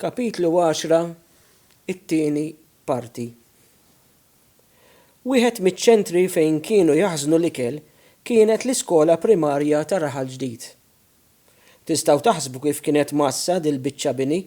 Kapitlu Għaxra, It-Tieni Parti Wieħed miċ-ċentri fejn kienu jaħżnu l-ikel kienet l-iskola primarja ta' Raħal Ġdid. Tistgħu taħsbu kif kienet mgħassa dil-biċċa bini?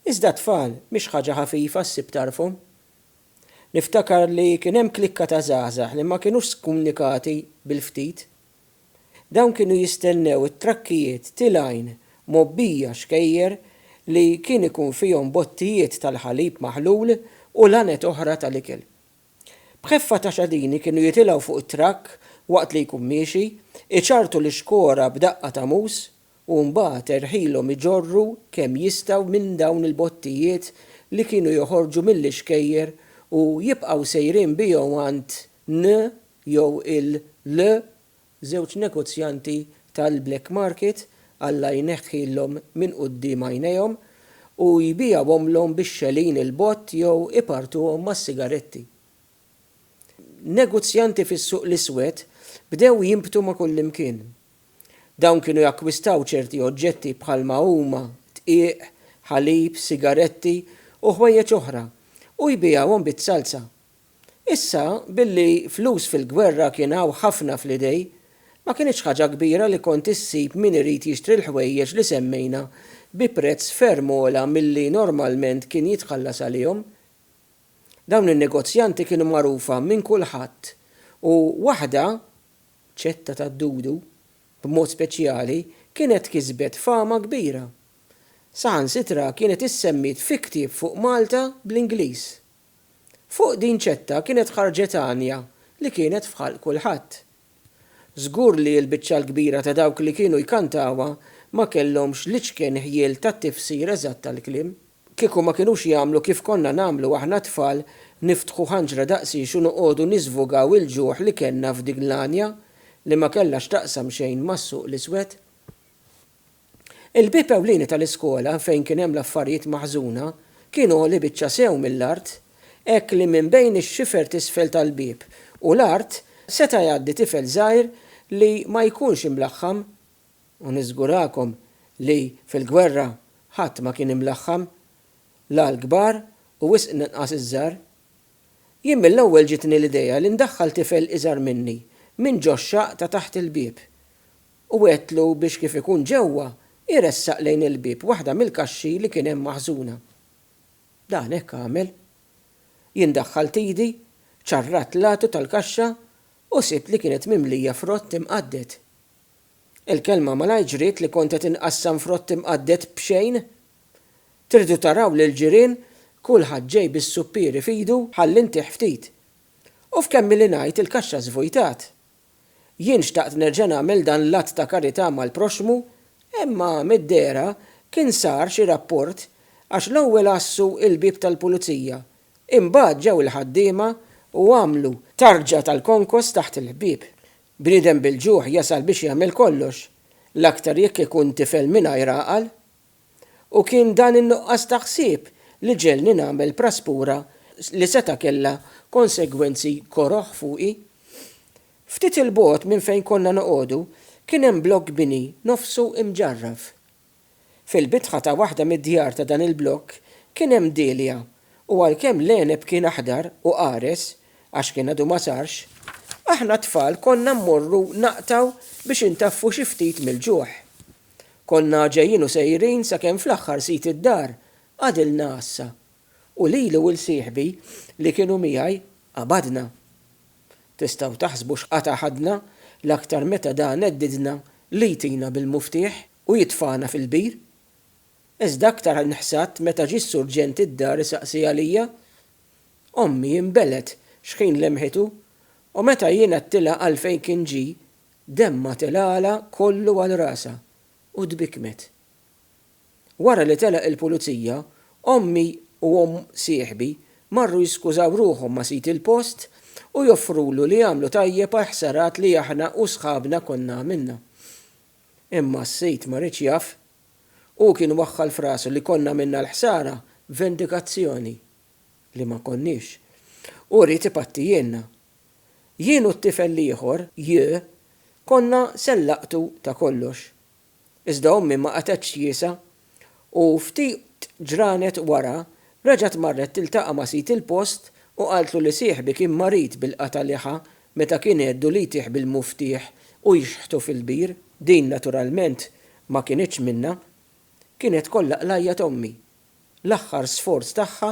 Iżda t-tfal mhix ħaġa ħafifa ssib tarfhom. Niftakar li kien hemm klikka ta' żgħażagħ li ma kinux skumunikati bil-ftit. Dawn kienu jistennew it-trakkijiet tilgħin mgħobbija xkejjer li kien ikun fihom bottijiet tal-ħalib maħlul u laned oħra tal-ikel. B'ħeffa ta' xadini kienu jitilgħu fuq it-trakk waqt li jkun miexi, iċarrtu l-ixkora b'daqqa ta' mus u mbagħad erħilhom iġorru kemm jistgħu minn dawn il-bottijiet li kienu joħorġu mill-ixkejjer u jibqgħu sejrin bihom għand N jew il-LE, żewġ negozjanti tal-black market, Alla jneħħilhom minn quddiem għajnejhom, u jbigħuhomlhom bix-xegħlin 'il bogħod jew ipartuhom mas-sigaretti. Negozjanti fis-suq l-iswed bdew jinbtu ma' kullimkien. Dawn kienu jakkwistaw ċerti oġġetti bħalma huma dqiq, ħalib, sigaretti, u ħwejjeġ oħra, u jbigħuhom bit-salsa, Issa, billi flus fil-gwerra kien hawn ħafna fl-idej, ma kinitx ħaġa kbira li kont issib min irid jixtri l-ħwejjeġ li semmejna bi prezz ferm ogħla milli normalment kien jitħallas għalihom. Dawn in-negozjanti kienu magħrufa minn kulħadd u waħda, Ċetta tad-Dudu, b'mod speċjali, kienet kisbet fama kbira. Saħansitra kienet issemmiet fi ktieb fuq Malta bl-Ingliż. Fuq din ċetta kienet ħarġet għanja li kienet f'ħalq kulħadd. Żgur li l-biċċa l-kbira ta' dawk li kienu jkantawha ma kellhomx l-iċken ħjiel tat-tifsir eżatt tal-kliem. Kieku ma kienux jagħmlu kif konna nagħmlu aħna t-tfal, niftħu ħanġra daqsiex u noqogħdu niżvugaw il-ġuħ li kellna f'dik l-għanja li ma kellha x'taqsam xejn mas-suq l-iswed. Il-bieb ewlieni tal-iskola fejn kien hemm l-affarijiet maħżuna kien għoli biċċa sew mill-art hekk li minn bejn ix-xifer t'isfel tal-bieb u l-art seta' jgħaddi tifel żgħir li ma jkunx imlaħħam u niżgurakom li fil-gwerra ħadd ma kien imlaħħam la l-kbar u wisq inqas iż-żgħar. Jien mill-ewwel ġietni l-idea li ndaħħal tifel iżgħar minni minn ġo x-xaqq ta' taħt il-bieb u għedtlu biex kif ikun ġewwa, iressaq lejn il-bieb waħda mill-kaxxi li kien hemm maħżuna. Dan hekk għamel. Jien daħħalt idi, ċarrat l-għatu tal-kaxxa u sibt li kienet mimlija frott imqadded. Il-kelma malajr ġriet li kont qed inqassam frott imqadded b'xejn! Tridu taraw lill-ġirien, kulħadd ġej bis-suppieri f'idu ħalli ntih ftit. U f'kemm ili ngħid il-kaxxa żvujtat. Jien xtaqt nerġa' nagħmel dan l-att ta' karità mal-proxxmu, imma mid-dehra kien sar xi rapport għax l-ewwel għassu l-bieb tal-pulizija, imbagħad ġew il-ħaddiema u għamlu tarġa tal-konkos taħt il-bieb. Bniedem bil-ġuħ jasal biex jagħmel kollox, l-aktar jekk ikun tifel mingħajr għaqal. U kien dan in-nuqqas ta' ħsieb li ġegħelni nagħmel praspura li seta' kellha konsegwenzi koroh fuqi. Ftit 'il bogħod minn fejn konna noqogħdu kien hemm blokk bini nofsu imġarraf. Fil-bitħa ta' waħda mid-djar ta' dan il-blokk kien hemm dielja u għalkemm l-għeneb kien aħdar u qares, għax kien għadu ma sarx, aħna t-tfal konna mmorru naqtgħu biex intaffu xi ftit mill-ġuħ. Konna ġejjin u sejrin sakemm fl-aħħar sid id-dar għadilna għassa u lili u 'l sieħbi li kienu miegħi qabadna. Tistgħu taħsbu x'qatgħa ħadna l-aktar meta da neddidna li jtina bil-muftieħ u jitfagħna fil-bir. Iżda aktar nħsadt meta ġie s-surġent id-dar isaqsi għalija. Ommi inbelgħet x'ħin lemħitu u meta jien għedtilha għalfejn kien ġie, Demmha telgħalha kollu għal rasha u tbikkmet. Wara li telaq il-pulizija, ommi u omm sieħbi marru jiskużaw ruħhom ma' sid il-post u joffrulu li jagħmlu tajjeb għall-ħsarat li aħna u sħabna konna għamilna. Imma s-sid ma riedx jaf. Hu kien waħħal f'rasu li konna għamilna l-ħsara b'vendikazzjoni. Li ma konniex. Hu ried ipattijielna. Jien u t-tifel l-ieħor, Yu, konna se nlaqqtu ta' kollox. Iżda ommi ma qatgħetx tjiesa' u ftit ġranet wara reġgħet marret tiltaqa' ma' sid il-post u qaltlu li sieħbi kien marid bil-qatgħa liħa meta kien għeddu li jtih bil-muftieħ u jxħtu fil-bir. Din naturalment ma kinitx minnha. Kienet kollha qlajja t'ommi l-aħħar sforz tagħha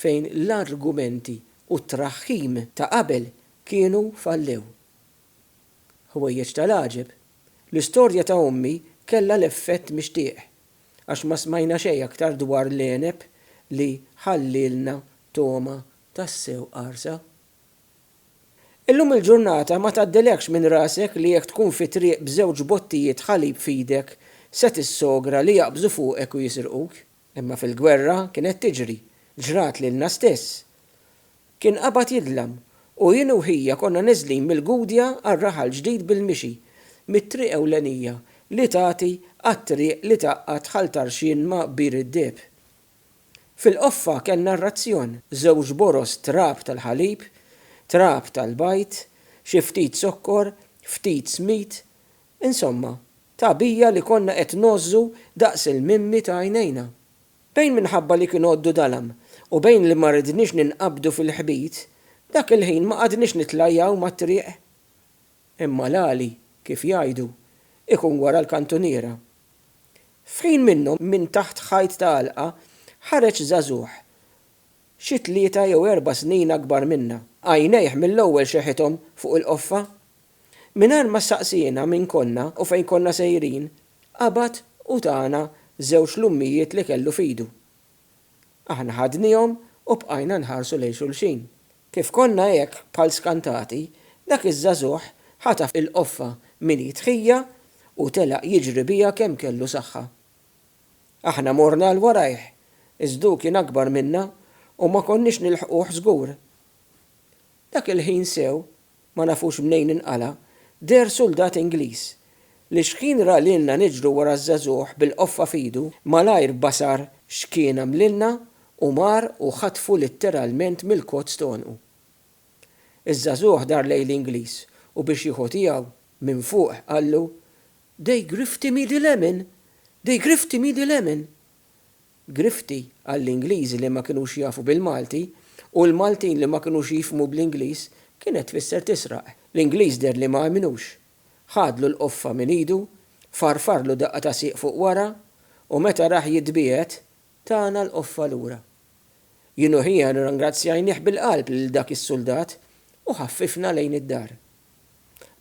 fejn l-argumenti u t-traħħim ta' qabel kienu fallew. Ħwejjeġ tal-għaġeb, l-istorja ta' ommi kellha l-effett mixtieq, għax ma smajna xejn aktar dwar l-għeneb li ħallielna togħma tassew qarsa. Illum il-ġurnata ma tgħaddilekx minn rasek li jekk tkun fi triq b'żewġ bottijiet ħalib f'idek se tissogra li jaqbżu fuqek u jisirquk. Imma fil-gwerra kienet tiġri, ġrat lilna stess. Kien qabad jidlam, u jien u ħija konna neżlin mill-Gudja għal raħal ġdid bil-mixi, mit-triq ewlenija li tagħti għat-triq li tgħaqqad Ħal Tarxien ma' Bir id-Deheb. Fil-qoffa kellna r-razzjon, żewġ boroż trab tal-ħalib, trab tal-bajd, xi ftit zokkor, ftit żmid, insomma, tagħbija li konna qed ngħożżu daqs il-mimmi ta' għajnejna. Bejn minħabba li kien għoddu dalgħam u bejn li ma ridniex ninqabdu fil-ħbit, dak il-ħin ma qgħadniex nitlajjaw mat-triq. Imma l-għali, kif jgħidu, ikun wara l-kantuniera. F'ħin minnhom minn taħt ħajt ta' għalqa ħareġ żagħżugħ xi tlieta jew erba' snin akbar minna. Għajnejh mill-ewwel xeħithom fuq il-qoffa. Mingħajr ma staqsiena min konna u fejn konna sejrin, qabad u tana żewġ lummijiet li kellu f'idu. Aħna ħadniehom u bqajna nħarsu lejn xulxin. Kif konna hekk bħal skantati, dak iż-żagħżugħ ħataf il-qoffa minn id ħija u telaq jiġri biha kemm kellu saħħa. Aħna morna għal warajh, iżd hu kien akbar minna u ma konniex nilħquh żgur. Dak il-ħin sew ma nafux mnejn inqala', deher suldat Ingliż, li xħin ra lilna niġru wara ż-żagħżugħ bil-qoffa f'idu, malajr basar x'kien għamlilna u mar u ħatfu litteralment mill-kotz t'għonqu. Iż-żagħżugħ dar lejn l-Ingliż u biex jieħu tiegħu, minn fuq qallu, They grifty me the lemon! They grifty me the lemon! Grifti għall-Ingliżi li ma kinux jafu bil-Malti u l-Maltin li ma kinux jifhmu bl-Ingliż kienet tfisser tisraq. L-Ingliż deher li ma emmnux. Ħadlu l-qoffa minn idu, farfarlu daqqa ta' sieq fuq wara u meta rah jitbiegħed, tana l-qoffa lura. Jien u ħiena rringrazzjajnih bil-qalb lil dak is-suldat u ħaffifna lejn id-dar.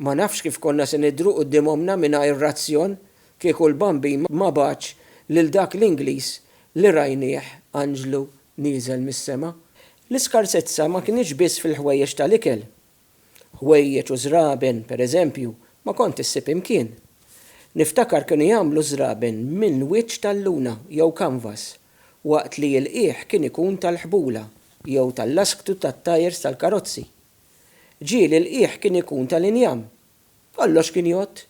Ma nafx kif konna se nidhru quddiem ommna mingħajr razzjon kieku l-Bambin ma bagħatx lil dak l-Ingliż li rajnieh anġlu nieżel mis-sema. L-iskarsezza ma kinitx biss fil-ħwejjeġ tal-ikel. Ħwejjeġ u żraben, per eżempju, ma kont issib imkien. Niftakar kienu jagħmlu ż-żraben minn wiċċ tal-luna jew kanvas, waqt li l-qiegħ kien ikun tal-ħbula jew tal-lasktu tat-tajers tal-karozzi. Ġieli l-qiegħ kien ikun tal-injam, kollox kien jgħodd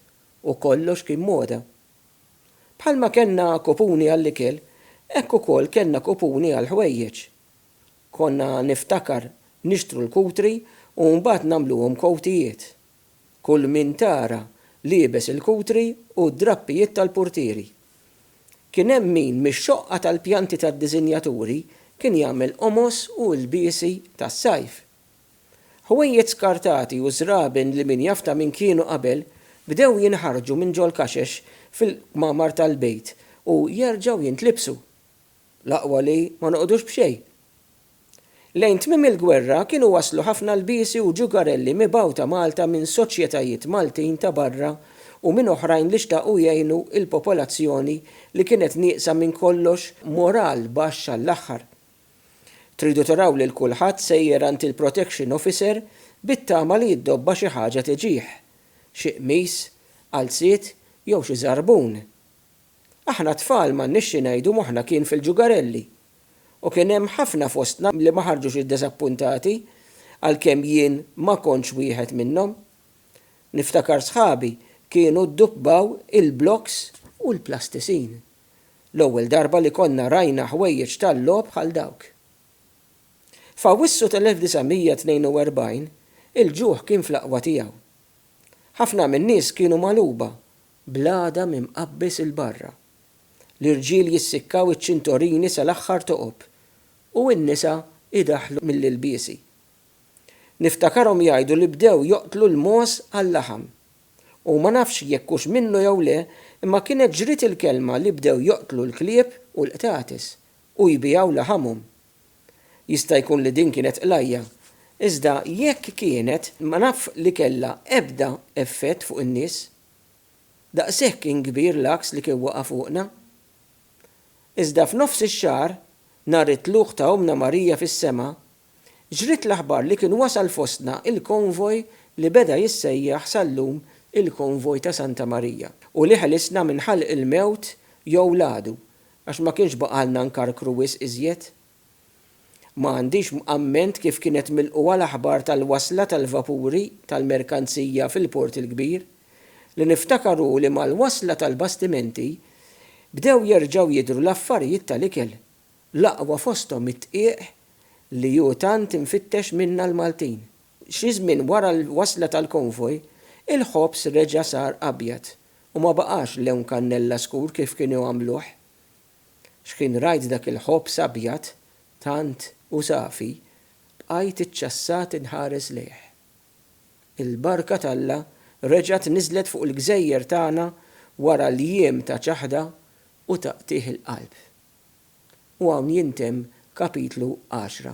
u kollox kien moda. Bħalma kellna kupuni għall-ikel, hekk ukoll kellna kupuni għall-ħwejjeġ. Konna niftakar nixtru l-kutri u mbagħad nagħmluhom kowtijiet. Kull min tara liebes il-kutri u d-drappijiet tal-purtieri. Kien hemm min mix-xoqqa tal-pjanti tad-diżinjaturi kien jagħmel qomos u ilbiesi tas-sajf. Ħwejjeġ skartati u żraben li min jaf ta' min kienu qabel bdew jinħarġu minn ġol-kaxex fil-kmamar tal-bejt u jerġgħu jintlibsu. L-aqwa li ma noqogħdux b'xejn. Lejn tmiem il-gwerra kienu waslu ħafna lbiesi u ġugarelli mibgħuta Malta minn soċjetajiet Maltin ta' barra u minn oħrajn li xtaqu jgħinu l-popolazzjoni li kienet nieqsa minn kollox moral baxx għall-aħħar. Tridu taraw lil kulħadd sejjer għand il-protection officer bit-tama li d-dobba xi ħaġa tiġih, xi qmis, qalziet jew xi żarbun. Aħna t-tfal m'għandniex xi ngħidu moħħna kien fil-ġugarelli. U kien hemm ħafna fostna li ma ħarġux iddeżappuntati għalkemm jien ma kontx wieħed minnhom. Niftakar sħabi kienu dduppaw il-blocks u l-plastisin. L-ewwel darba li konna rajna ħwejjeġ tal-logħob bħal dawk. F'Awwissu tal-1942, il-ġuħ kien fl-aqwa tiegħu. Ħafna min-nies kienu magħluba, bl-għadam imqabbeż 'il barra. L-irġiel jissikkaw iċ-ċintorini sal-aħħar toqob, u n-nisa jdaħħlu mill-ilbiesi. Niftakarhom jgħidu li bdew joqtlu l-mogħoż għal-laħam. u ma nafx jekk hux minnu jew le, imma kienet ġriet il-kelma li bdew joqtlu l-klieb u l-qtates u jbigħu laħamhom. Jista' jkun li din kienet qlajja, iżda jekk kienet ma naf li kellha ebda effett fuq in-nies. Daqshekk kien kbir l-għaks li kien waqa' fuqna. Iżda f'nofs ix-xahar, nhar it-tlugħ ta' Ommna Marija fis-sema, Ġriet l-aħbar li kien wasal fostna il-konvoj li beda jissejjaħ sal-lum il-konvoj ta' Santa Marija u li ħelisna minn ħalq il-mewt jew l-għadu għax ma kienx baqgħalna nkarkru wisq iżjed. Ma għandix amment kif kienet milqugħa l-aħbar tal-wasla tal-vapuri tal-merkanzija fil-Port il-Kbir li niftakar hu li mal-wasla tal-bastimenti bdew jerġgħu jidhru l-affarijiet tal-ikel L-aqwa fosthom it-tqiegħ li hu tant imfittex minna l-Maltin. Xi żmien wara l-wasla tal-konvoj, il-ħobż reġa' sar abjad u ma baqax lewn kannella skur kif kienu jagħmluh. Xħin rajt dak il-ħobż abjad tant u safi, bqajt iċċassat inħares lejh. Il-barka t'Alla reġgħet niżlet fuq il-gżejjer tagħna wara l-jiem ta' ċaħda u ta' qtigħ il-qalb. U hawn jintemm kapitlu għaxra.